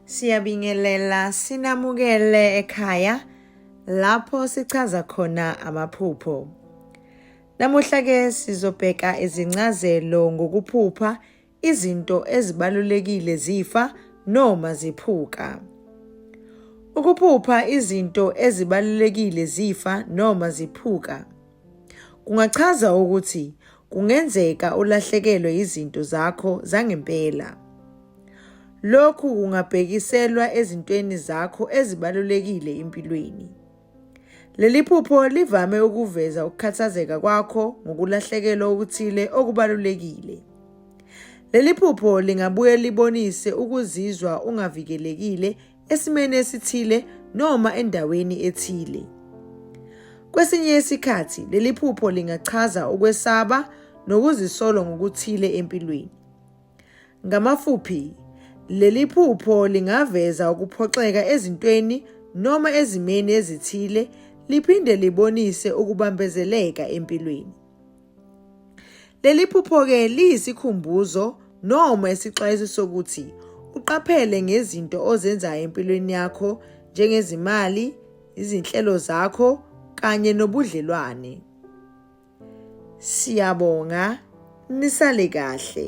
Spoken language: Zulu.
Siyabingelela sinamukele ekhaya lapho sichaza khona amaphupho. Namuhla ke sizobheka izincazelo ngokuphupha izinto ezibalulekile zifa noma ziphuka. Ukuphupha izinto ezibalulekile zifa noma ziphuka kungachaza ukuthi kungenzeka ulahlekelwe izinto zakho zangempela. Lokhu kungabhekiselwa ezintweni zakho ezibalulekile empilweni. Leli phupho livame ukuveza ukukhathazeka kwakho ngokulahlekelwa okuthile okubalulekile. Leli phupho lingabuye libonise ukuzizwa ungavikelekile esimeni esithile noma endaweni ethile. Kwesinye isikhathi leli phupho lingachaza ukwesaba nokuzisolo ngokuthile empilweni. Ngamafuphi, leli phupho lingaveza ukuphoxeka ezintweni noma ezimeni ezithile liphinde libonise ukubambezeleka empilweni. Leli phupho-ke liyisikhumbuzo noma isixwayiso sokuthi uqaphele ngezinto ozenzayo empilweni yakho njengezimali, izinhlelo zakho kanye nobudlelwane. Siyabonga nisale kahle.